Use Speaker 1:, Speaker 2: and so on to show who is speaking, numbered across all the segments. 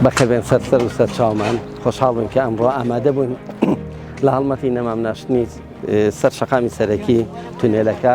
Speaker 1: بەخێربێن سەر سەر و سەر چاومان خۆشحاڵ بن کە ئەمڕۆ ئامادە بوون لە هەڵمەتی نەمام ناشتنی سەر شەقامی سەرەکی تونێلەکە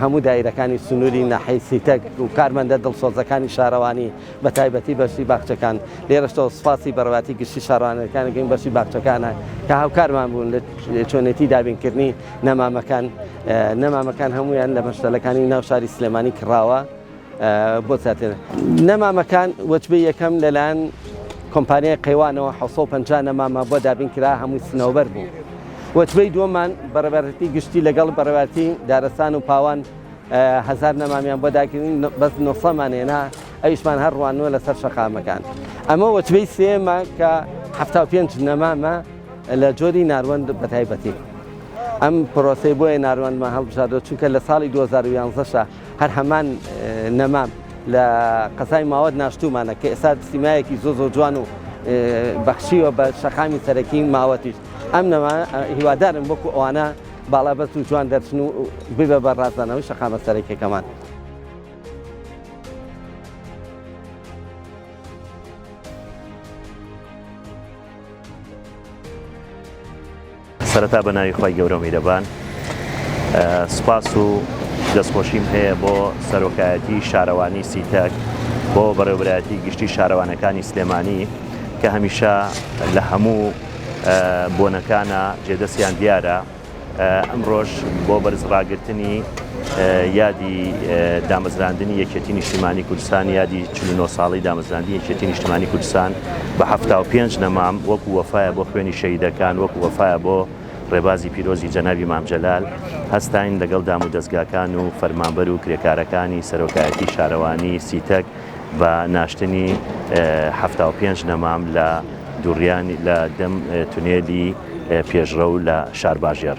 Speaker 1: هەموو دایرەکانی سنووری ناحیەی سیتەک و کارمەندە دڵسۆزەکانی شارەوانی بە تایبەتی بەشی باخچەکان، لێرەشەوە سوپاسی بەڕێوەتی گشتی شارەوانیەکان دەکەین بەشی باخچەکانە کە هاوکارمان بوون لە چۆنێتی دابینکردنی نەمامەکان، نەمامەکان هەموویان لە مەشتەلەکانی ناو شاری سلێمانی کڕاوە. بۆ زیاتر نەمامەکان وەجبەی یەکەم لەلایەن کۆمپانیای قەیوانەوە 1950 نەمامە بۆ دابین کرا هەمووی سنەوبەر بوو وەجبەی دووەمان بەڕێبەرتی گشتی لەگەڵ بەڕێوارتی دارستان و پاوان هزار نەمامیان بۆ داگرین بەس نوسەمانێنا ئەویشمان هەر ڕوانوە لەسەر شەقامەکان ئەمە وەچبەی سێمە کە ه پێنج نەمامە لە جۆری ناروەند بە تایبەتی ئەم پرۆسی بۆیە ناروەندمە هەڵبژاردە چونکە لە ساڵی 2011شە هەر هەمان نەمام لە قەزای ماوەت ناشتومانە کە ئێستا سیمایەکی زۆ زۆ جوان و بەخشیوە بە شەقامی سەرەکی ماوەتیش ئەم نەما هیوادارم وەکو ئەوانە باڵا بەس و جوان دەرچن و ببە بە ڕازدانەوەی شەقامە سەرەکیەکەمان.
Speaker 2: سەرەتا بە ناوی خوای گەورەو میرەبان سوپاس و دەستخۆشیم هەیە بۆ سەرۆکایەتی شارەوانی سیتەک بۆ بەڕێوبەرایەتی گشتی شارەوانەکانی سلێمانی کە هەمیشە لە هەموو بۆنەکانە جێدەستیان دیارە ئەمڕۆژ بۆ بەرز ڕاگرتنی یادی دامەزراندنی یەکێتی نیشتیمانی کوردستان یادی چل و نۆ ساڵەی دامەزراندنی یەکێتی نیشتمانی کوردستان بە حەفتا و پێنج نەمام وەکو وەفایە بۆ خوێنی شەهیدەکان وەکو وەفایە بۆ ڕێبازی پیرۆزی جەنابی مام جەلال هەستاین لەگەڵ دام و دەزگاکان و فەرمانبەر و کرێکارەکانی سەرۆکایەتی شارەوانی سیتەک بە ناشتنی حەفتا و پێنج نەمام لە دوڕیانی لە دەم تونێلی پێشڕەو لە شارباژێڕ.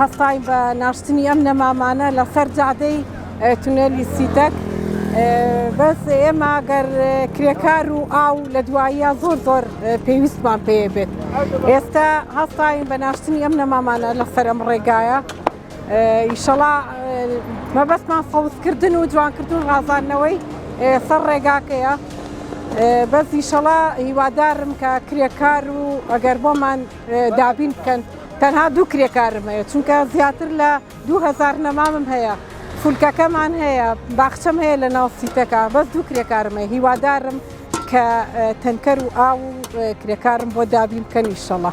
Speaker 3: هەستاین بە ناشتنی ئەم نەمامانە لە سەر جادەی تونێلی سیتەک بەس ئێمە گەر کرێکار و ئاو لە دواییە زۆر زۆر پێویستمان پێ بێت ئێستا هەستاین بە ناشتنی ئەم نەمامانە لە سەر ئەم ڕێگایە ئیشەڵا مەبەستمان فەوزکردن و جوانکردن ڕازانەوەی سەر ڕێگاکەیە بەس ئیشەڵا هیوادارم کە کرێکار و ئەگەر بۆمان دابین بکەن تەنها دوو کرێکارم هەیە چونکە زیاتر لە 2000 نەمامم هەیە فولکەکەمان هەیە باخچەم هەیە لە ناو سیتەکە بەس دوو کرێکارمە هیوادارم کە تەنکەر و ئاو و کرێکارم بۆ دابین بکەن ئیشەڵە.